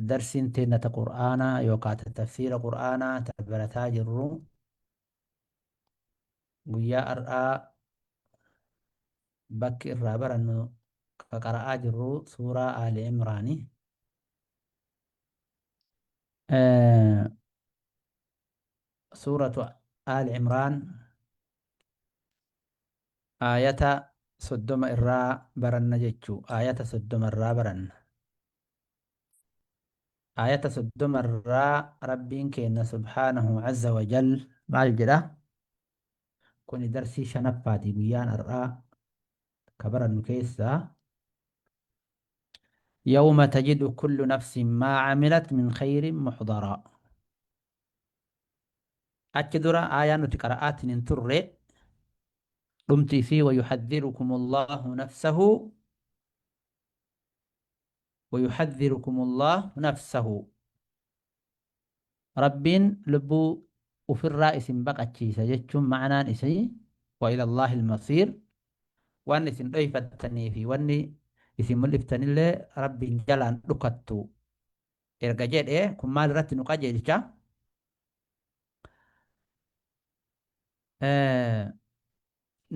Darsiin teenna ta Qur'aanaa yookaa ta tafsiira Qur'aanaa ta barataa jirru guyyaa ar'aa bakki irraa barannu ka qara'aa jirru suuraa Aali Imraani. Suuratu Aali Imraan Aayata 30 irraa baranna jechu aayata 30 irraa baranna. Aayata 30 irraa Rabbiin keenna subhaanahu azza wa jal maal jedha? Kuni darsii shanaffaati guyyaan har'aa ka barannu keessaa. Yawma tajidu kullu nafsin maa camilat min khayrin muxdaraa. Achi dura aayaa nuti qara'aatiin hin turre dhumti isii wayuhadhirukum Allahu nafsahu wayuhadhirukum Allahu nafsahu Rabbiin lubbuu ufirraa isin baqachiisa jechuun ma'anaan isii wa ila Allahi al-masiir waan isin dhoyfattanii fi wanni isin mul'iftanillee Rabbiin jalaan dhukattu erga jedhe kun maal irratti nu qajeelcha?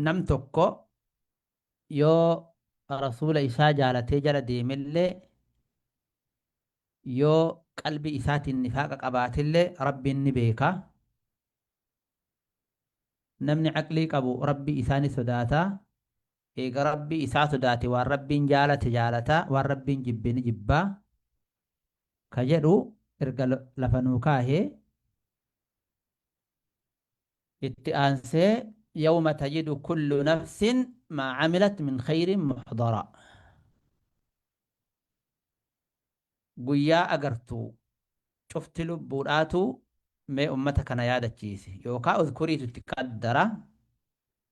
Nam tokko yoo rasuula isaa jaalatee jala deemellee yoo qalbii isaatiin nifaaqa qabaatillee rabbiin ni beeka. Namni aqlii qabu rabbii isaa ni sodaata. Eega Rabbi isaa sodaate waan Rabbiin jaalate jaalata, waan Rabbiin jibbe ni jibba ka jedhu erga lafa nuu kaahee, itti aansee yawma tajidu kullu nafsin maa camilat min khayrin muxdaraa guyyaa agartu cufti lubbuudhaatu mee ummata kana yaadachiisi yookaa udhkuriitu itti qaddara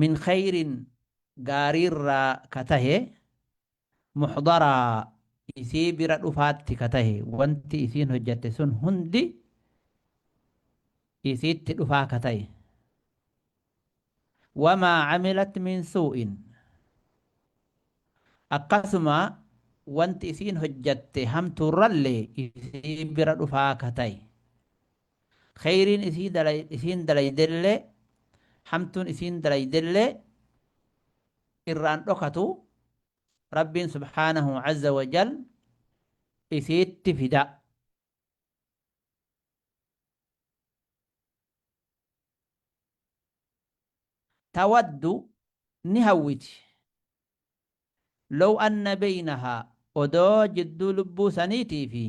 min khayrin gaariirraa ka tahe muxdaraa isii bira dhufaatti ka tahe wanti isiin hojjatte sun hundi isiitti dhufaa ka tahe wamaa camilat min suu'in akkasuma wanti isiin hojjatte hamtuurrallee isii bira dhufaa ka tahe Kheyriin isii dalay isiin dalaydellee hamtuun isiin dalaydellee irraan dhokatu Rabbiin subhaanahu azza wa jal isiitti fida. Tawaddu ni hawwiti Low anna beynahaa odoo jidduu lubbuu saniitii fi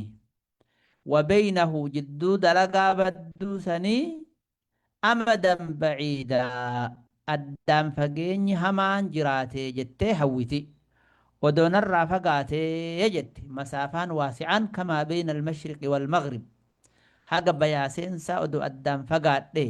wa beynahu jidduu dalagaa badduu sanii amadan baciida addaan fageenyi hamaan jiraatee jettee hawwiti odoo narraa fagaatee jette masaafaan waasi'aan kamaa beyna almashriqi walmaghrib haga bayaa seensaa odoo addaan fagaadhee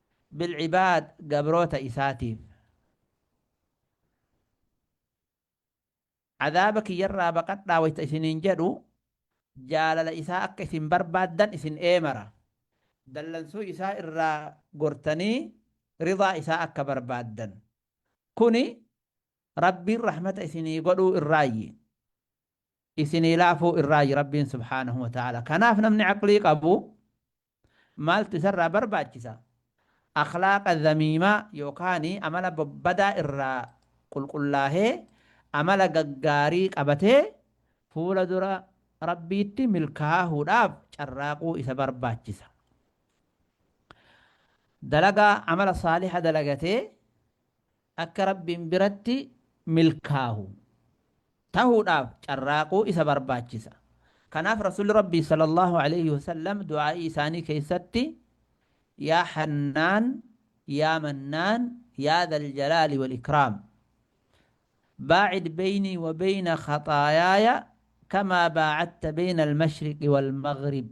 bilcibaad gabroota isaatiif azaaba kiyyarraa baqadhaa wayta isiniin jedhu jaalala isaa akka isin barbaaddan isin eemara dallansuu isaa irraa gortanii ridaa isaa akka barbaaddan kuni rabbiin rahmata isinii godhuu irraayyi isinii laafuu irraayyi rabbiin subhaanahu wa ta'ala kanaaf namni aqlii qabu Maaltu isarraa barbaachisa? Akhlaaqa zamiimaa yookaan amala babbadaa irraa qulqullaahee amala gaggaarii qabatee fuula dura Rabbiitti milkaahuudhaaf carraaquu isa barbaachisa. Dalagaa amala saaliha dalagatee akka Rabbiin biratti milkaahu tahuudhaaf carraaquu isa barbaachisa. Kanaaf Rasuulli Rabbii sallallaahu aleeyhi wasallam du'aa'ii isaanii keessatti Yaa Hannaan, Yaa Mannaan, Yaa Zal Jalaali Wal Ikraam. Baacid beeynii wa beeyna khaxaayaaya kamaa baacadta beeyna al-mashriqi wal-maghrib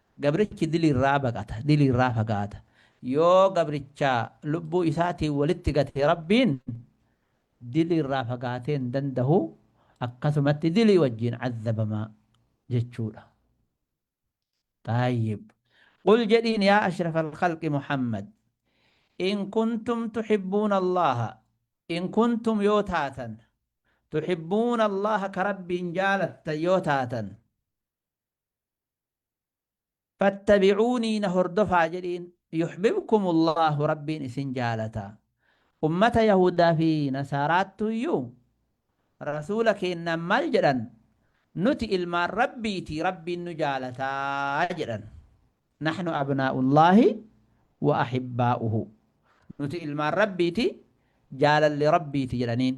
Gabrichi dilii irraa baqata, dilii irraa fagaata. Yoo gabricha lubbuu isaatiin walitti gate Rabbiin dilii irraa fagaatee hin dandahu, akkasumatti dilii wajjiin azzabama jechuudha. Xaayyib. Qul jedhiin yaa ashrafal khalqi Muhammad in kuntum tuhibbuuna Allaaha in kuntum yoo taatan tuhibbuuna Allaaha ka Rabbiin jaalattan yoo taatan Fattabi'uunii na hordofaa jedhiin yuhbibkumullaahu Rabbiin isin jaalata. Ummata Yahuudaa fi Nasaaraattuuyyuu Rasuula keennaan maal jedhan? Nuti ilmaan Rabbiiti Rabbiin nu jaalata jedhan. Nahnu abnaa'ullaahi wa ahibbaa'uhu. Nuti ilmaan Rabbiiti jaalalli Rabbiiti jedhaniin.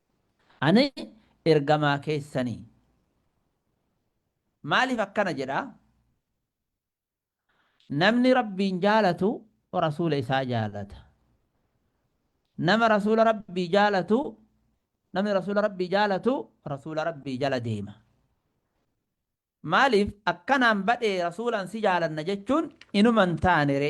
Ani ergamaa keessanii. Maaliif akkana jedha? Namni Rabbiin jaalatu Rasuula isaa jaalata. Nama Rasuula Rabbii jaalatu namni Rasuula Rabbii jaalatu Rasuula Rabbii jala deema. Maaliif akkanaan badhee Rasuulaan si jaalanna jechuun inuma hin taanere.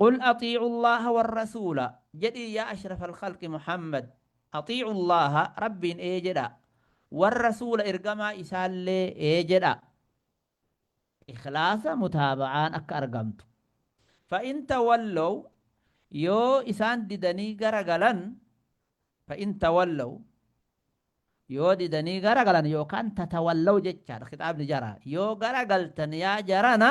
Qul axiicu Allaaha warrasuula, jedhii yaa ashrafal khalqi Muhammad, axiicu Allaaha, Rabbiin ee jedhaa, warrasuula ergamaa isaallee ee jedhaa. Ikhlaasa, mutaaba'aan akka argamtu. Fa in tawallaw, yoo isaan didanii gara galan, fa in tawallaw, yoo didanii gara galan yookaan tatawallaw jechaadha, khixaabni jaraa, yoo gara galtan yaa jarana,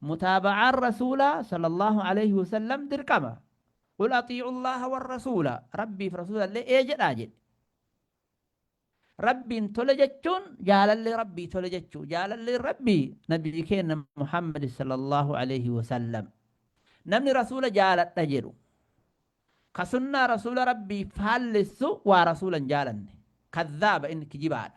Mutaaba'aan Rasuulaa, Sallallaahu aleyhi wa sallam, dirqama. Qul axii'u Allaaha warrasuula, Rabbiif Rasuulallee ee jedhaa jedhe. Rabbiin tole jechuun jaalallee Rabbii tole jechuu. Jaalalleen Rabbii Nabii keenna Muhammad, Sallallaahu aleyhi wa sallam. Namni Rasuula jaaladha jedhu, ka sunnaa Rasuula Rabbii faallessu waa Rasuula hin jaalanne. Kazzaaba, inni kijibaadha.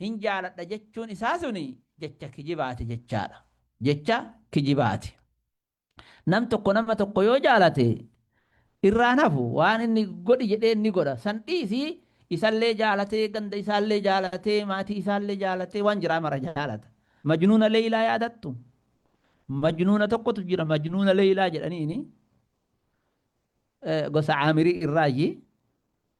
hin jaaladha jechuun isaa suni jecha kijibaati jechaadha. Jecha kijibaati. Nam tokko nama tokko yoo jaalate irraan hafu waan inni godhi jedheen ni godha. San dhiisii isallee jaalatee ganda isaallee jaalatee maatii isaallee jaalatee waan jiraa mara jaalata. Majnuuna Leeylaa yaadattu? Majnuuna tokkotu jira Majnuuna Leeylaa jedhaniini gosa Caamirii irraayyi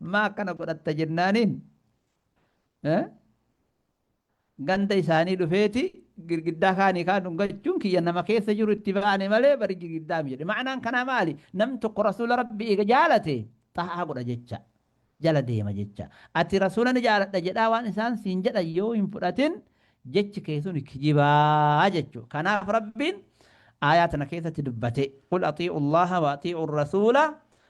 Maa akkana godhatta jennaaniin ganda isaanii dhufeeti girgiddaa kaanii kaan dhungachuun kiyya nama keessa jiru itti baane malee bari girgiddaa jedhe. Ma'anaan kanaa maali? Nam tokko rasuula rabbi eega jaalate xaa'aa godha jecha. Jala deema jecha. Ati rasuula ni jaaladha jedhaa waan isaan siin jedhan yoo hin fudhatin jechi kee sun kijibaa jechuudha. Kanaaf rabbiin aayaa tana keessatti dubbate. Qul atii'u Allaha wa atii'u rasuula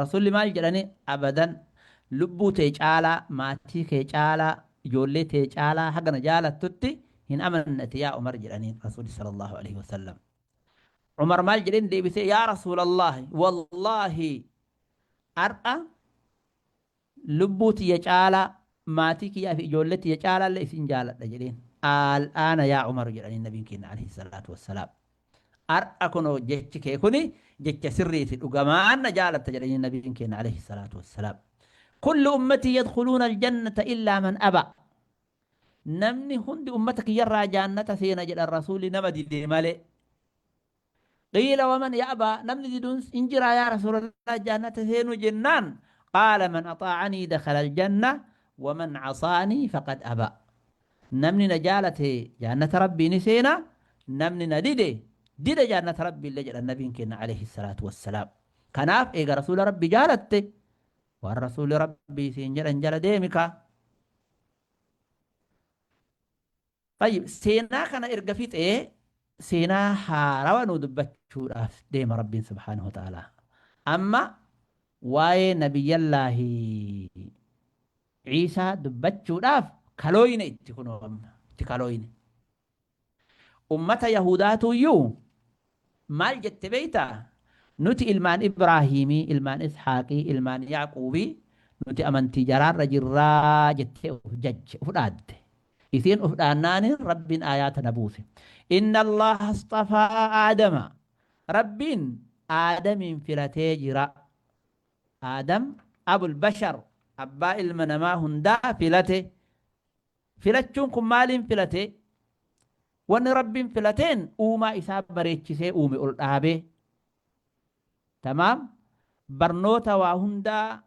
Rasuulli maal jedhani? Abadan! Lubbuu tee caalaa, maatii kee caalaa, ijoollee tee caalaa haga na jaalattutti hin amanne ati yaa Umar jedhaniin Rasuulli sallallaahu aleyhi wa sallam. Umar maal jedheen deebisee? Yaa Rasuulallaahi! Wallaahi! Har'a Lubbuu tiyya caalaa, maatii kiyyaa fi ijoollee tiyya caalaallee isin jaaladha jedheen. Al-aana yaa Umaru jedhaniin Nabiin keenna alayhi salaatu wassalaam. Har'a kunoo jechi kee kuni jecha sirriiti, dhugamaan na jaalatta jedhaniin Nabiin keenna alayhi salaatu wassalaam. Kullu ummatii yadkhuluuna al-jannata illaa man abaa. Namni hundi ummata kiyyarraa jaannata seena jedhan Rasuulli nama dide malee. Qiila waman ya'baa namni diduns hin jiraa yaa rasuulallah jaannata seenuu jennaan qaala man axaacanii dakala aljanna waman casaanii faqad abaa namni na jaalate jaannata rabbii ni seena namni na dide dida jaannata rabbii illee jedhan nabiin keenna alayhi salaatu wassalaam kanaaf eega rasuula rabbii jaalatte waan rasuuli rabbii siin jedhan jala deemikaa Tayyib seenaa kana erga fixee seenaa haarawa nu dubbachuudhaaf deema Rabbiin subhaanahu wa ta'aalaa. Amma waa'ee nabiyyallaahi Ciisaa dubbachuudhaaf kalooyne itti kunoo amma itti kalooyne. Ummata Yahudaatuyyuu Maal jette beektaa? Nuti ilmaan Ibraahiimii, ilmaan Ishaaqii, ilmaan Yaaquubii, nuti amantii jaraarra jirra jettee uf jajje, uf dhaadde. Isiin uf dhaannaani Rabbiin aayaa tana buuse. Inna Allaaha asxafaa Aadama. Rabbiin Aadamiin filatee jira. Aadam abul bashar, abbaa ilma namaa hundaa filate. Filachuun kun maaliin filate? Wanni Rabbiin filateen uumaa isaa bareechisee uume ol dhaabee. Tamaam barnoota waa hundaa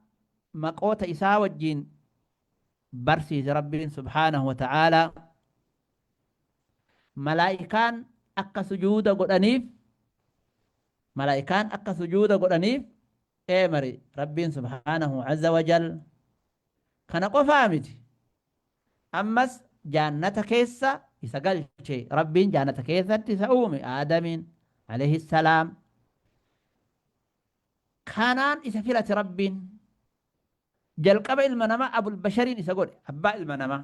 maqoota isaa wajjiin barsiise Rabbiin subhaanahu wa ta'aalaa. Malaa'ikaan akka sujuuda godhaniif malaa'ikaan akka sujuuda godhaniif eemare Rabbiin subhaanahu azza wa jal. Kana qofaa miti. Ammas jaannata keessa isa galche. Rabbiin jaannata keessatti isa uume, Aadamiin, aleyhi salaam. Kanaan isa filate Rabbiin. Jalqaba ilma namaa Abul Bashariin isa godhe, abbaa ilma namaa.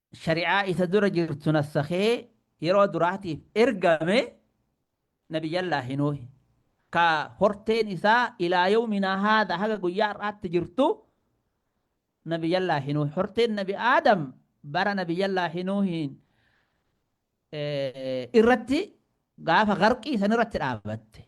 shari'aa isa dura jirtu nassakhee yeroo duraatiif ergame nabiyyallaahi nuuhi ka horteen isaa ilaa yawminaa haadha haga guyyaa har'aatti jirtu nabiyyallaahi nuuhi horteen nabi aadam bara nabiyyallaahi nuuhiin eh, irratti gaafa garqii san irratti dhaabatte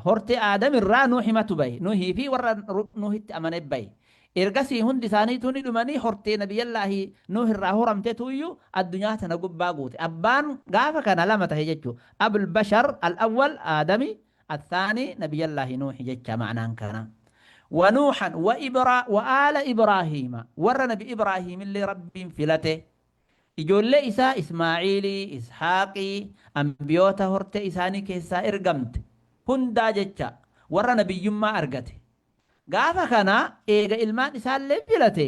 Hortee Aadam irraa Nuuhimatu bahe. Nuuhii fi warra Nuuhitti amane bahe. Ergasii hundi isaaniituu ni dhumanii hortee Nabiyyallaahi Nuuh irraa horamtetuuyyu addunyaa tana gubbaa guute. Abbaan gaafa kana lama tahe jechu. Abul Bashar Al-Awwal Aadami, Al-Thaani Nabiyyallaahi Nuuhi jecha ma'naan kana. Wa Nuuhan wa Ibra wa Aala Ibraahiima. Warra Nabi Ibraahiimillee Rabbiin filate. Ijoollee isaa Ismaa'iilii, Ishaaqii, anbiyoota hortee isaanii keessaa ergamte hundaa jecha warra nabiyyummaa argate. Gaafa kana eega ilmaan isaallee filate,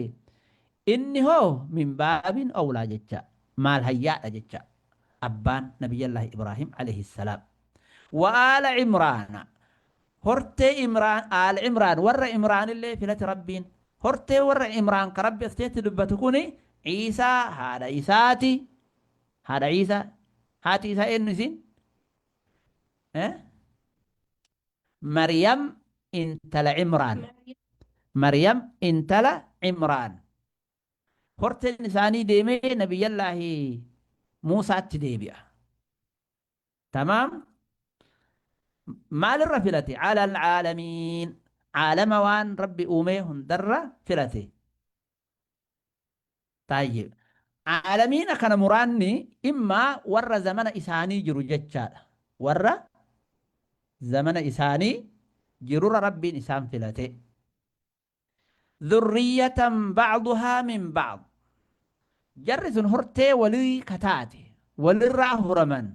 inni hoo min baabin awlaa jecha maal hayyaadha jecha abbaan nabiyyallaahi Ibraahiim alayhis-salaam. Wa aala Imraana Hortee Imraan, Aal Imraan, warra Imraanillee filate Rabbiin. Hortee warra Imraan ka Rabbi as keessatti dubbatu kuni Iisaa haadha isaati. Haadha Iisaa. Haati isaa eenyu isiin? Eh? Maryam intala Imraan. Maryam intala Imraan. Horteen isaanii deemee nabiyyallaahi Muusaatti deebi'a. Tamaam Maal irra filate? Alal aalamiin Aalama waan Rabbi uumee hundarra filate. Taayyib. Aalamiina kana muraanni imma warra zamana isaanii jiru jechaadha. Warra zamana isaanii jirurra Rabbiin isaan filate. dhurriyyatan ba'duhaa min ba'd jarri sun hortee walii ka taate walirraa horaman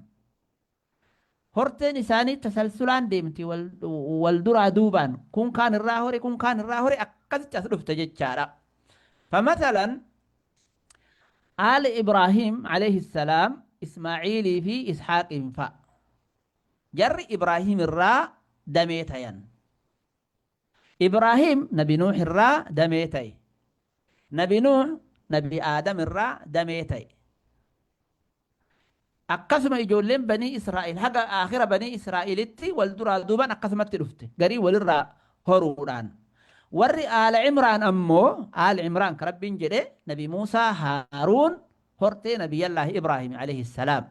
horteen isaanii tasalsulaan deemti wal, wal duraa duubaan kun kaan irraa hore kun kaan irraa hore akkasitti as dhufte jechaadha famathalan aal ibraahim alayhi salaam ismaaciilii fi ishaaqiin fa'a jarri ibraahim irraa damee tayan Ibraahiim nabi Nuuh irraa damee ta'e. Nabi Nuuh nabi Aadam irraa damee ta'e. Akkasuma ijoolleen banii Israa'il haga aakhira banii Israa'ilitti wal duraa duuban akkasumatti dhufte. Garii walirraa horuudhaan. Warri Aala Imraan ammoo Aal Imraan ka Rabbiin jedhe nabi Muusaa Haaruun hortee nabiyyallaahi Ibraahiim alayhi salaam.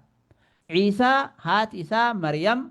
Ciisaa haati isaa Maryam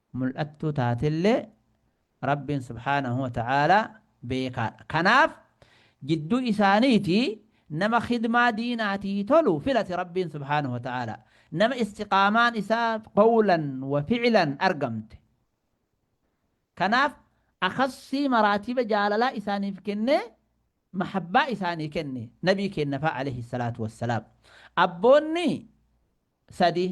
mul'attuu taatellee Rabbiin subhaanahu wa ta'aalaa beekaadha. Kanaaf jidduu isaaniitii nama khidmaa diinaatii tolu filate Rabbiin subhaanahu wa ta'aalaa. Nama istiqaamaan isaa qawlan wa fi'lan argamte. Kanaaf akhassii maraatiba jaalalaa isaaniif kennee mahabbaa isaanii kenne nabii keennafaa alayhi salaatu wassalaam. Abboonni sadii.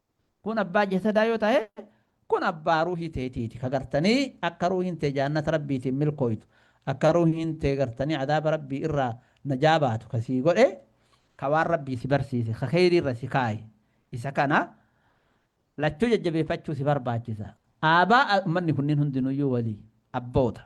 Kun abbaa jasadaa yoo tahe, kun abbaa ruuhii teetiiti. Ka gartanii akka ruuhiin tee jaannata Rabbiitiin milkooytu, akka ruuhiin tee gartanii azaaba Rabbii irraa najaa baatu ka sii godhe, ka waan Rabbii si barsiise, ka kheeyrii irra si kaaye, isa kana lachuu jajjabeeffachuu si barbaachisa. Aabaa ummanni kunniin hundinuyyuu walii, abboota.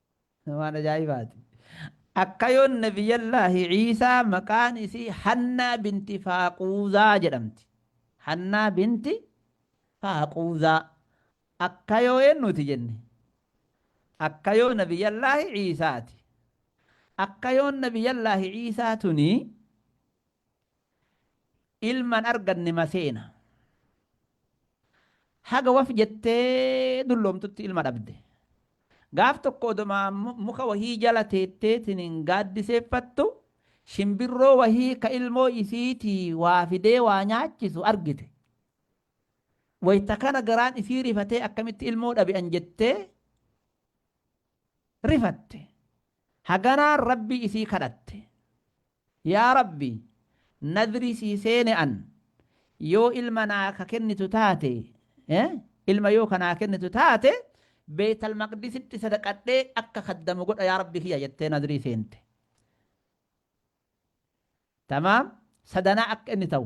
Waan ajaa'ibaati. Akka yoon Nabiyyallaahi Iisaa maqaan isii Hannaa binti Faaquuzaa jedhamti. Hannaa binti Faaquuzaa. Akka yoo eennuuti jenne? Akka yoo Nabiyyallaahi Iisaati. Akka yoon Nabiyyallaahi Iisaa tuni ilma hin arganne maseena. Haga waf jettee dulloomtutti ilma dhabde. Gaaf tokko odoma muka wahii jala teetteetiniin gaaddiseeffattu shimbirroo wahii ka ilmoo isiitii waa fidee waa nyaachisu argite. Wayta kana garaan isii rifatee akkamitti ilmoo dhabe an jettee rifatte. Haganaan Rabbii isii kadhatte. Yaa Rabbi! Nadrii sii seene an, yoo ilma naa ka kennitu taate, ilma yoo ka naa kennitu taate, Beeytal Maqdisitti sadaqadhee akka khaddamu godha yaa Rabbi kiyya jettee nadrii seente. Tamaam, sadanaa akka inni ta'u.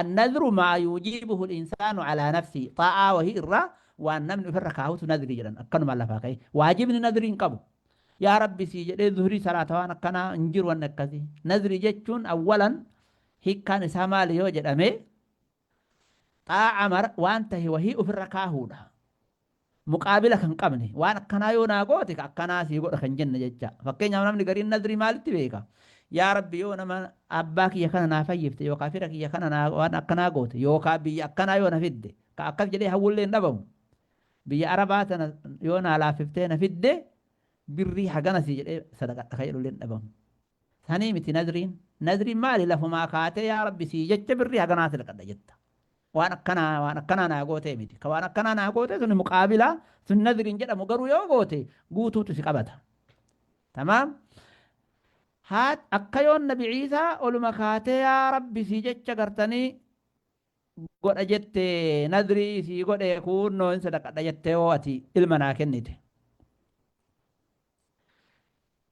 An-nadhru maa yuujibuhu al-insaanu calaa nafsihi, xaa'aa wahii irraa waan namni ofirra kaahutu nadhri jedhan, akkanumaan lafaa ka'ee. Waajibni nadhri hin qabu. Yaa Rabbi sii jedhee zuhrii salaata waan akkanaa hin jiru wanni akkasii. Nadhri jechuun awwalan hiikkaan isaa maali yoo jedhame, xaa'a mara waan tahe wahii ofirra kaahuudha. muqaabila kan qabne. Waan akkanaa yoo naa goote ka akkanaa sii godha kan jenne jecha. Fakkeenyaaf namni gariin nadrii maalitti beeka? Yaa Rabbi yoo nama abbaa kiyya kana naa fayyifte yookaa fira kiyya kana naa waan akkanaa goote yookaa biyya akkanaa yoo na fidde ka akkas jedhee hawwullee hin dhabamu. Biyya Arabaa tana yoo naa laaffiftee na fidde birrii hagana sii jedhee sadaqadha ka jedhullee hin dhabamu. Sanii miti nadriin. Nadriin maali lafumaa kaatee yaa rabbi sii jecha birrii haganaa si laqadha jetta. Waan akkanaa waan akkanaa naa gootee miti. Ka waan akkanaa naa gootee suni muqaabilaa sun nadriin jedhamu garuu yoo goote guutuutu si qabata. Tamaam. Haa akka yoon nabi ciisaa oluma kaatee yaa rabbi sii jecha gartanii godha jette nadrii sii godhe kuunnoo hin sadaqadha jettee hoo ati ilma naa kennite.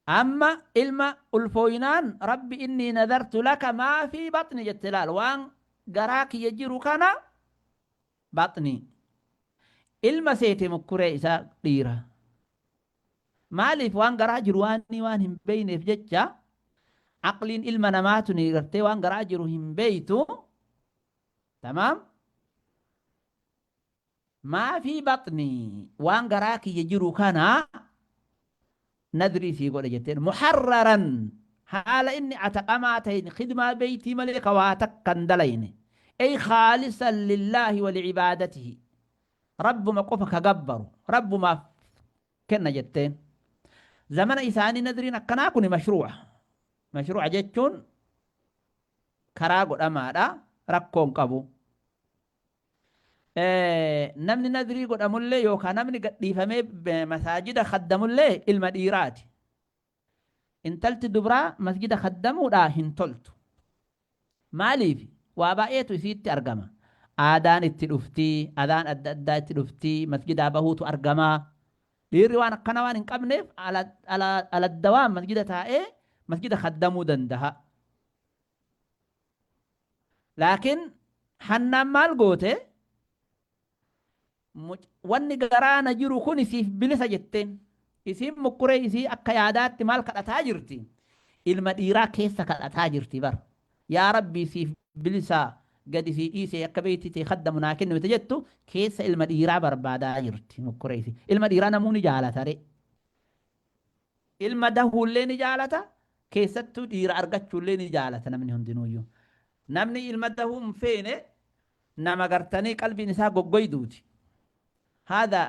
Amma ilma ulfooynaan Rabbi innii nadartu laka maa fii baxni jette laal waan garaa kiyya jiru kana baxni ilma seete mukkuree isaa dhiira maaliif waan garaa jiru waanii waan hin beeyneef jecha aqliin ilma namaa tuni gartee waan garaa jiru hin beeytu tamaam maa fii baxnii waan garaa kiyya jiru kana nadrii sii godhe jetteen muharraran haala inni ataqamaa ta'een khidmaa beeytii malee ka waa takka hin dalayne ey khaalisan lillaahi wa licibaadatihi rabbuma qofa ka gabbaru rabbumaaf kenna jetteen zamana isaanii nadriin akkanaa kuni mashruuca mashruuca jechuun karaa godhamaadha rakkoon qabu Namni nadrii godhamullee yookaan namni gadhiifamee masaajida kaddamullee ilma dhiiraati. Intalti dubraa masjida kaddamuudhaa hin toltu. Maaliif? Waa baay'eetu isiitti argama. Aadaan itti dhufti, adaan adda addaa itti dhufti, masjidaa bahuutu argama. Dhiirri waan akkana waan hin qabneef aladdawaan masjida taa'ee masjida kaddamuu danda'a. Laakiin Hannaan maal goote? Wanni garaa na jiru kun siif bilisa jetteen. Isiin mukkuree isii akka yaadaatti maal kadhataa jirti? Ilma dhiiraa keessa kadhataa jirti bar. Yaa Rabbii siif bilisa gadi sii dhiisee akka beeyti tee kaddamu naa kenni wayita jettu keessa ilma dhiiraa barbaadaa jirti mukkuree isii. Ilma dhiiraa namuu ni jaalata ree. Ilma dahuullee ni jaalata, keessattuu dhiira argachuullee ni jaalata namni hundinuuyyuu. Namni ilma dahuu hin feene nama gartanii qalbiin isaa goggoyduuti. Haadha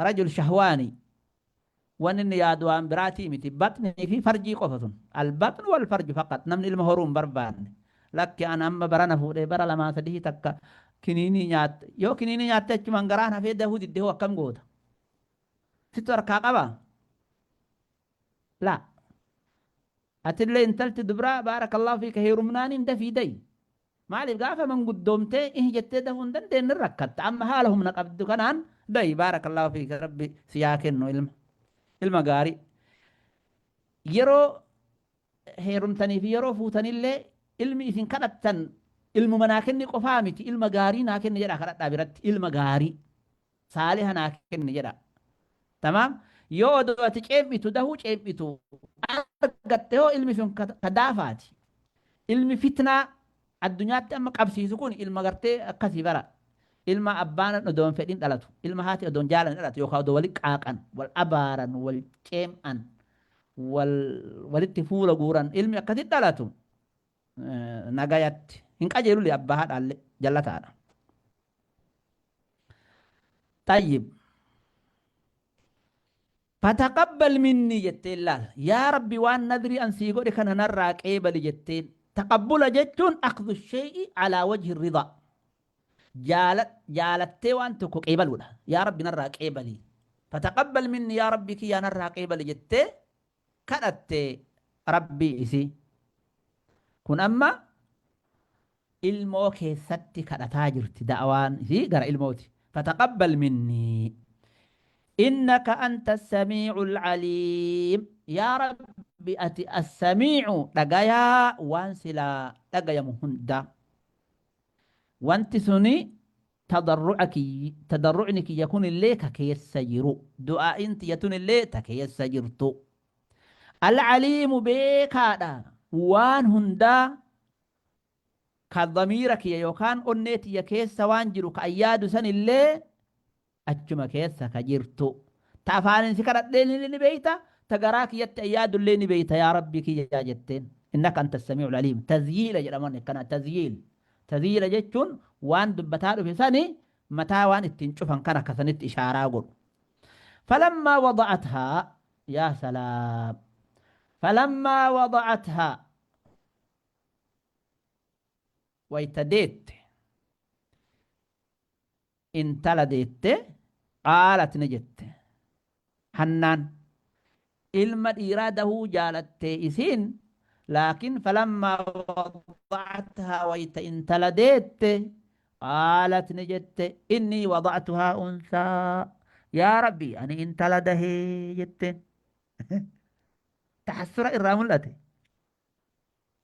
rajul shahwaanii waan inni yaadu waan biraatii miti. Baxnii fi farjii qofa sun. Albaxnu wal farju faqat namni ilma horuu hin barbaanne. Lakki an amma barana fuudhee bara lamaa sadii takka kiniinii nyaatte. Yoo kiniinii nyaatte achumaan garaan hafee dahuu didde hoo akkam goota? Sittu harkaa qabaa? Laa. Atillee intalti dubraa baarakallahu fiika heerumnaaniin dafii dayi. Maaliif gaafa manguddoomtee ihi jettee dahuu hin dandeenye ni rakkatta. Amma haala humna qabdu kanaan dayi baarakallahu fiika rabbi si yaa kennu ilma. Ilma gaarii. Yeroo heerumtanii fi yeroo fuutanillee ilmi isin kadhattan ilmuma naa kenni qofaa miti ilma gaarii naa kenni jedhaa kadhadhaa biratti ilma gaarii. saaliha naa kenni jedha tamaam yoo odoo ati ceem'itu dahuu ceem'itu argatte hoo ilmi sun ka ka daafaati ilmi fitnaa addunyaatti amma qabsiisu kun ilma gartee akkasii bara ilma abbaan odoo hin fedhin dhalatu ilma haati odoo hin jaalanne dhalatu yookaan odoo wali qaaqan wal abaaran wal ceem'an wal walitti fuula guuran ilmi akkasitti dhalatu nagayatti hin qajeelule abbaa haadhaalle jallataadha xayyib fataqabbal minnii jetteen laal yaa rabbi waan nadrii an sii godhe kana narraa qeebali jetteen taqabbula jechuun akhdhu shay'i alaa wajhi ridaa Jaala- jaalattee waan tokko qeebaluudha yaa rabbi narraa qeebali fataqabbal minni yaa rabbi kiyyaa narraa qeebali jettee kadhatte Rabbii isii. Kun amma ilmoo keessatti kadhataa jirti da'awaan isii gara ilmooti. Fataqabbal minnii innaka anta as-samii'ul 'aliim. Yaa Rabbi ati as-samii'u dhagayaa waan silaa dhagayamu hundaa. Wanti suni Tadarru'a kiyy, tadarru'ni kiyya kunillee ka keessa jiru, du'aa'iin tiyya tunillee ta keessa jirtu. Al-Aliimu beekaadha waan hundaa ka damiira kiyya yookaan onnee tiyya keessa waan jiru ka an yaadu sanillee achuma keessa ka jirtu. Ta afaaniin si kadhadheenillee ni beeyta, ta garaa kiyyatti an yaadullee ni beeyta yaa Rabbii kiyya jetteen. Innaka anta as-samii'ul aliim. Tazyiila jedhama wanni akkanaa, tazyiil. Tadhiira jechuun waan dubbataa dhufe sani mataa waan ittiin cufan kana ka sanitti ishaaraa godhu. Falammaa wada'athaa Yaa salaam! Falammaa wada'athaa Wayta deette. intala deette qaalat ni jette hannaan ilma dhiiraa dahuu jaalatte isiin laakiin falammaa wada'athaa wayta intala deette qaalat ni jette innii wada'tuhaa unsaa yaa rabbii ani intala dahee jetteen tahassura irraa mul'ate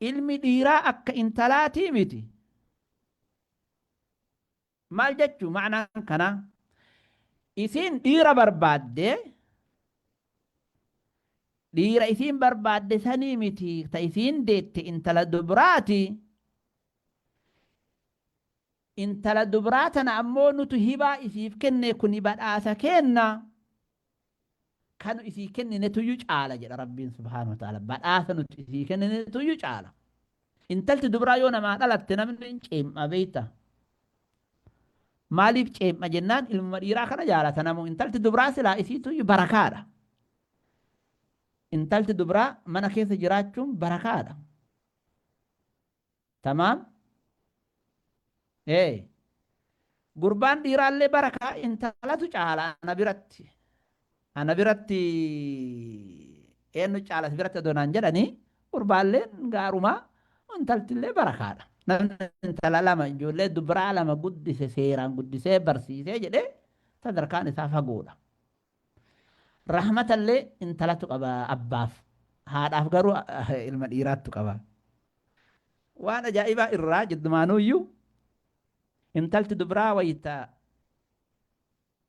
Ilmi dhiiraa akka intalaatii miti. Maal jechuu ma'anaan kanaa? Isiin dhiira barbaadde, dhiira isiin barbaadde sanii miti ta isiin deette intala dubraati. Intala dubraa tana ammoo nutu hibaa isiif kenne kuni badhaasa keenna. kanu isii kenninetuyyu caala jedha rabbiin subhaanahu wa ta'ala badhaasa nuti isii kenninetuyyu caala intalti dubraa yoo namaa dhalatte namni hin ceem'a beeyta maaliif ceem'a jennaan ilmuma dhiiraa kana jaalata namu intalti dubraa silaa isiituyyu barakaadha intalti dubraa mana keessa jiraachuun barakaadha Tamaam ee gurbaan dhiiraallee bara kaa intalatu caala ana biratti ana biratti eenyu caalati biratti adoo naan jedhanii gurbaalleen gaarumaa intaltillee bara kaadha namni intala lama ijoollee dubraa lama guddise seeraan guddisee barsiisee jedhee sadarkaan isaa fagoodha Rahmatallee intalatu qaba abbaaf, haadhaaf garuu ilma dhiiraattu qaba. Waan ajaa'ibaa irraa jiddumaanuuyyuu intalti dubraa wayta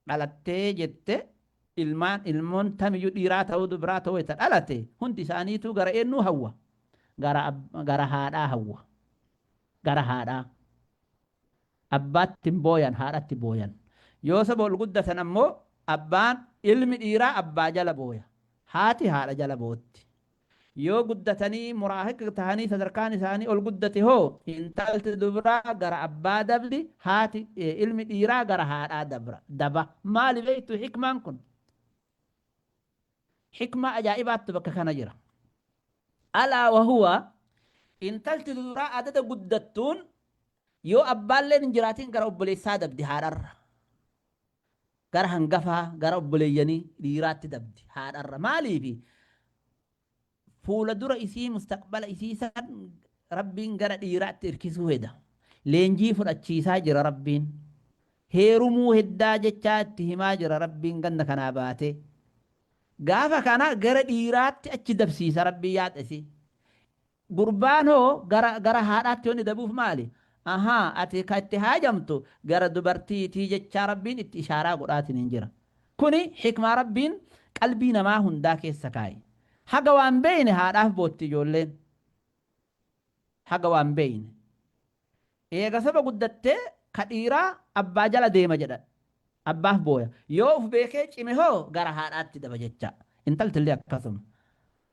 dhalattee jette ilmaan ilmoon tamiyyuu dhiiraa ta'uu dubraa ta'uu wayta dhalate hundi isaaniituu gara eennuu hawwa? Gara, gara haadhaa hawwa. Gara haadhaa. Abbaatti hin booyan, haadhatti booyan. Yoo saba ol guddatan ammoo abbaan, ilmi dhiiraa abbaa jala booya. Haati haadha jala bootti. Yoo guddatanii muraahiq tahanii sadarkaan isaanii ol guddate hoo intalti dubraa gara abbaa dabdi, haati, ilmi dhiiraa gara haadhaa dabra, daba. Maali beektu hikmaan kun? Hikmaa ajaa'ibaattu bakka kana jira. Alaa wa huwa, intalti duduraa adada guddattuun yoo abbaalleen hin jiraatin gara obboleessaa dabdi haadharra. Gara hangafaa, gara obboleeyyanii dhiiraatti dabdi haadharra. Maaliifi? Fuula dura isii mustaqbala isii san Rabbiin gara dhiiraatti irkisuu heda. Leenjii fudhachiisaa jira Rabbiin. Heerumuu heddaa jechaa itti himaa jira Rabbiin ganda kanaa baatee. Gaafa kana gara dhiiraatti achi dabsiisa Rabbiin yaada isii. Gurbaan hoo gara gara haadhaatti wanni dabuuf maali? Ahaa ati ka itti haajamtu gara dubartiitii jechaa Rabbiin itti ishaaraa godhaatiniin jira. Kuni hikmaa Rabbiin qalbii namaa hundaa keessa kaaye. Haga waan beeyne haadhaaf bootti ijoolleen. Haga waan beeyne. Eega soba guddattee ka dhiiraa abbaa jala deema jedha. Abbaaf booya. Yoo uf beekee cime hoo gara haadhaatti daba jecha. Intaltillee akkasuma.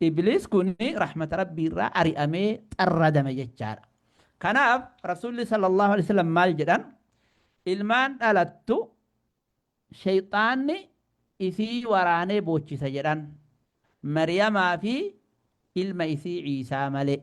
Ibliis kun rahmata Rabbii irraa ari'amee xarradame jechaadha. Kanaaf Rasuulli sallallahu alaihi wasallam maal jedhan? Ilmaan dhalattu sheyxaanni isii waraanee boochisa jedhan. Maryamaa fi ilma isii Ciisaa malee.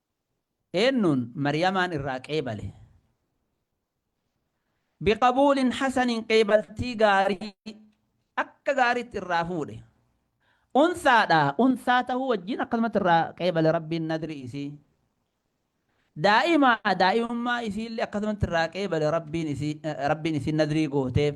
Eennuun Maryamaan irraa qeebale? Biqabuulin hasanin qeebaltii gaarii akka gaariitti irraa fuudhe. Unsaadha, unsaa tahuu wajjiin akkasumatti irraa qeebale Rabbiin nadrii isii. Daa'imaa, daa'imummaa isiillee akkasumatti irraa qeebale Rabbiin isii, Rabbiin isiin nadrii gooteef.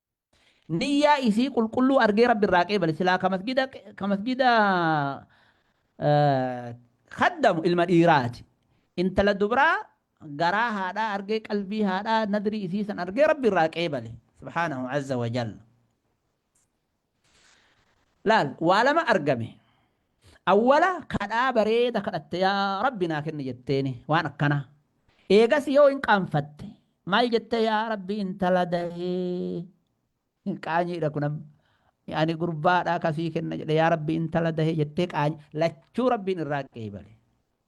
Niyyaa isii qulqulluu argee Rabbi irraa qeebale silaa ka masjida ka masjida kaddamu ilma dhiiraati. Intala dubraa garaa haadhaa argee qalbii haadhaa nadrii isii san argee Rabbi irraa qeebale. Subhaanahu azza wa jalla. Laal waa lama argame. Awwala kadhaa bareeda kadhatte yaa rabbi naa kenni jetteeni waan akkana. Eegasi yoo hin qaanfatte maal jette yaa rabbi intala dahee qaanyiidha kun amma. Ani gurbaadha kasii kenna jedhe yaa rabbi intala dahee jettee qaanyi lachuu rabbiin irraa qeebale.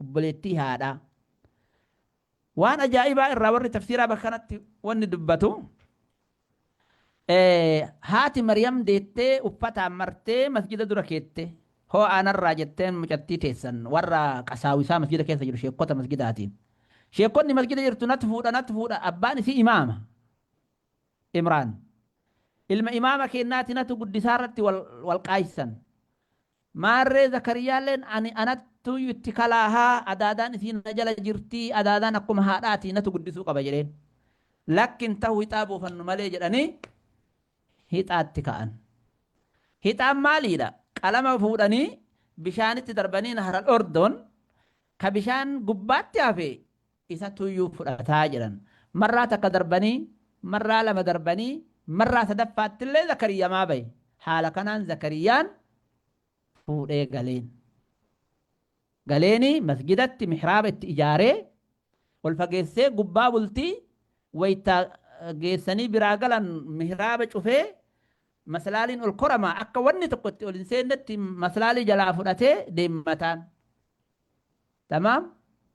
obboleettii haadhaa. Waan ajaa'ibaa irraa warri tafsiiraa bakka kanatti wanni dubbatu haati Maryam deettee uffataan martee masjida dura keette hoo'aa narraa jetteen mucattii teessan warra qasaawisaa masjida keessa jiru sheekkota masjidaatiin. Sheekkonni masjida jirtu nat fuudha nat fuudha abbaan isii imaama. Imraan. Ilma imaama keennaati natu guddisaa irratti wal qaaysan. Maarree Zakariyaalleen ani anattuuyyu itti kalaaha, adaadaan isii na jala jirti, adaadaan akkuma haadhaati natu guddisuu qaba jedheen. Lakki hin tahu hixaa buufannu malee jedhanii hixaatti ka'an. Hixaan maaliidha? Qalama fuudhanii bishaanitti darbanii Nahral Ordon ka bishaan gubbaatti hafe isatuyyuu fudhata jedhan. Marraa takka darbanii, marraa lama darbanii, marraa sadaffaattillee Zakariyamaa bahe. Haala kanaan Zakariyaan fuudhee galeen. Galeenii masjidatti mihraaba itti ijaaree, ol fageessee gubbaa bultii wayta geessanii biraa galan mihraaba cufee, maslaaliin ol korama akka wanni tokko itti ol hin seennetti maslaalii jalaa fudhatee deemataan. Tamaam?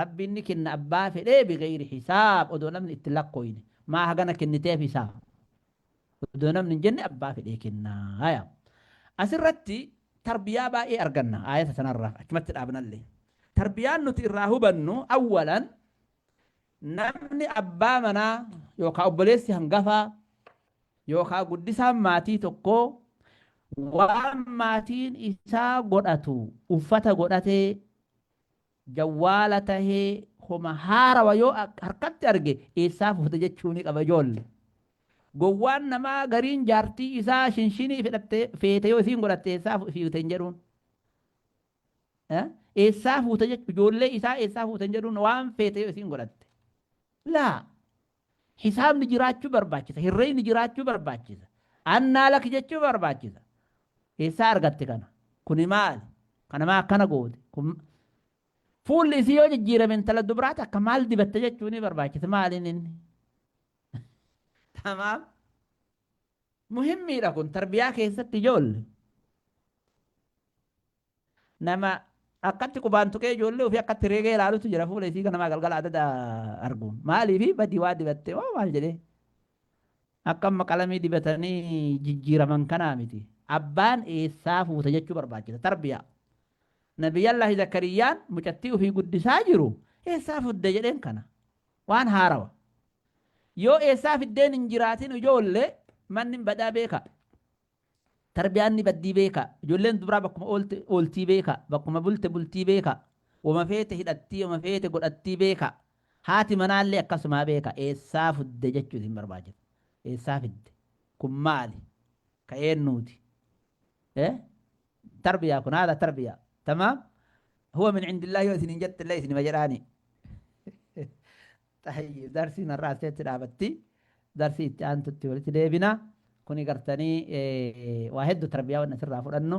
Rabbiin ni kenna abbaa fedhee bigheyri hisaab odoo namni itti lakkooyne maa hagana kenniteef isaa odoo namni hin jenne abbaa fedhee kenna haya asirratti tarbiyaa baay'ee arganna aayata sanarraa achumatti dhaabnallee tarbiyaan nuti irraa hubannu awwalan namni abbaa manaa yookaa obboleessi hangafaa yookaa guddisaan maatii tokkoo waan maatiin isaa godhatu uffata godhatee Jawwaala tahee homa haarawa yoo harkatti arge eessaa fuute jechuu ni qaba ijoolle. Gowwaan namaa gariin jaartii isaa shinshinii fedhatte feete yoo isiin godhatte eessaa fiute hin jedhuun. Eessaa fuute jechuu ijoollee isaa eessaa fuute hin jedhuun waan feete yoo isiin godhatte. Laa Hisaabni jiraachuu barbaachisa. Hirreeyni jiraachuu barbaachisa. Annaa laki jechuu barbaachisa. Eessaa argatte kana? Kuni maali? Kana maa akkana goote? Kun fuulli isii yoo jijjiirame intala dubraa takka maal dibatte jechuu ni barbaachisa. Maaliin inni? Tamaam. Muhimmiidha kun tarbiyaa keessatti ijoolle. Nama akkatti qubaan tuqee ijoollee ofii akkatti reegee ilaalutu jira fuula isii ganamaa galgala adada argu. Maaliif badii waa dibatte moo maal jedhee? Akka amma qalamii dibatanii jijjiiraman kanaa miti. Abbaan eessaa fuute jechuu barbaachisa. Tarbiyaa. Nabiyyallaahi Zakariyyaan mucattii ofii guddisaa jiru eessaa fudde jedheen kana. Waan haarawa. Yoo eessaa fiddeen hin jiraatin ijoollee manni badaa beekaa. Tarbiyaan ni baddii beekaa. Ijoolleen dubraa bakkuma oolte ooltii beekaa. Bakkuma bulte bultii beekaa. Woma feete hidhattii woma feete godhattii beekaa. Haati manaallee akkasumaa beekaa. Eessaa fudde jechuu isin barbaachisa. Eessaa fidde? Kun maali? Ka eennuuti? Eh? Tarbiyaa kun haadha tarbiyaa. Tamaam? Huwa min indillah yoo isiniin jettellee isinima jedhaanii. Xayyib darsiin har'aa asirratti dhaabatti. Darsii itti aantutti walitti deebina. Kuni gartanii waa heddu tarbiyaa waan asirraa fudhannu.